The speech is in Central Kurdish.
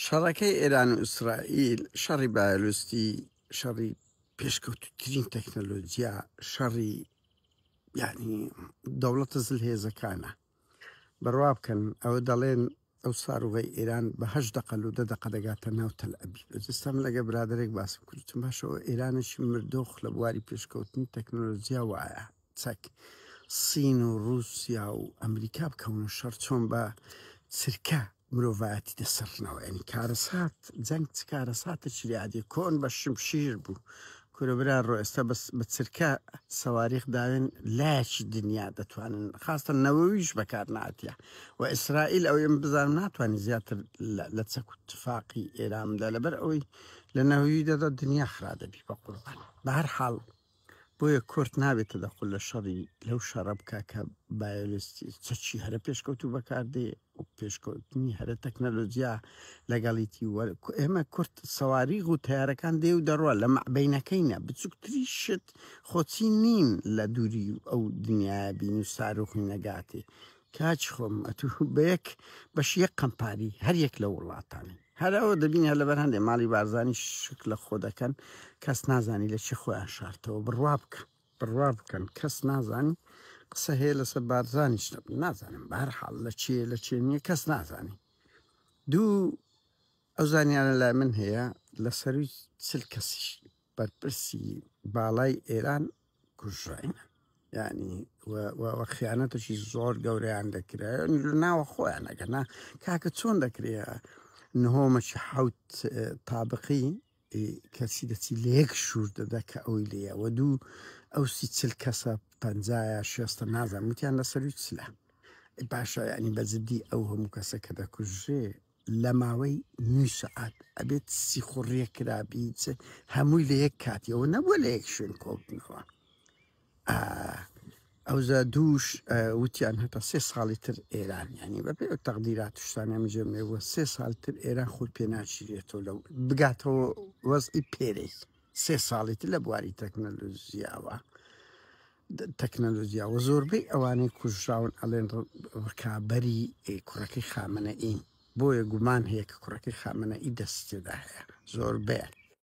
شەڕەکەی ئێران و ئیسرائیل شەڕی بایۆلوستی شەڕی پێشکەوتترین تەکنەلۆجیا شەڕی یعنی دەوڵەتە زل هێزەکانە بڕوا بکەن ئەوە دەڵێن ئەو ساروغی ئێران بەهش دەقل و دە دەقە دەگاتە ناو تەل ئەبی ئەجستان لەگە برادێک باسم کردتم باشەوە ئێرانەشی مردۆخ لە بواری پێشکەوتنی تەکنۆلۆژیا وایە چەک سین و روسیا و ئەمریکا بکەونە شەڕ چۆن بە چرکە مرۆڤایەتی دەسڕنەوە یعنی کارەسات جەنگ چ کارەساتێکی لادێ کۆن بە شمشیر بوو کورە برا ڕۆ ئێستا بەس بە چرکە سەواریخ داوێن لایەکی دنیا دەتوانن خاستە نەوەویش بەکار ناتە و ئیسرائیل ئەو ئێم بزانم ناتوانانی زیاتر لە چەک و تفاقی ئێرامدا لەبەر ئەوەی لە نەوەوی دەدا دنیا خرا دەبی بە قوربان بە هەر حاڵ بۆیە کورد نابێتە دە قوللە شەڕی لەو شەڕە بکا کە بایۆلستی چەکی هەرە پێشکەوتوو بەکاردێ و پێشکەوتنی هەرە تەکنەلۆجیا لەگەڵیتی وەر ئێمە کورت سەواری و تارەکان دێ و دەڕوە لە مەعبینەکەینە بچووکتری شت خۆچی نین لە دووری ئەو دنیاە بین و ساروخی نەگاتێ کاچ خۆم ئەتو بەیەک بەش یەک قەمپاری هەر یەک لە وڵاتانی هەر ئەوە دەبین هەر لەبەر هەندێک ماڵی بارزانانی شک لە خۆ دەکەن کەس نازانی لە چی خۆیان شارتەوە بڕوا بکە بڕوا بکەن کەس نازانی قسە هەیە لەسەر بارزانانیش نازانم بار حاڵ لە چێ لە چێ نییە کەس نازانی دوو ئەو زانیانە لای من هەیە لە سەروی چل کەسیش بەرپرسی باڵای ئێران کوژڕاین ینی خیانەتەکی زۆر گەوریان دەکرێت ناوە خۆیان ئەگەنا کاکە چۆن دەکرێت نهۆمەکی حوت تابقی کەسی دەچی لە یەک شوور دەدا کە ئەوی لەوە دوو ئەو سی چل کەسە پەنجایە شێستە نازان وتیان لەسەروی چلە باشە ینی بەجددی ئەو هەموو کەسە کە دەکوژێ لەماوەی نیو سەعات ئەبێت سیخوڕیە کرابیت هەمووی لە یەک کاتی ئەوە نەبووە لە یەک شوێن کۆبنەوە ئەوزا دووش وتیان هەتا سێ ساڵی تر ئێران ینی بە پێ تەقدیرات شتانە مجێمێوە سێ ساڵ تر ئێران خۆی پێناچیرێتەوە لە بگاتەوە وەزئی پێرێک سێ ساڵی تر لە بواری تەکنەلوزیاوە تەکنەلۆجیا و زۆربەی ئەوانەی کوژراون ئەڵێن ڕکابەری کوڕەکەی خامنەئین بۆیە گومان هەیە کە کوڕەکەی خامنەئی دەستی تێدا هەیە زۆربەیان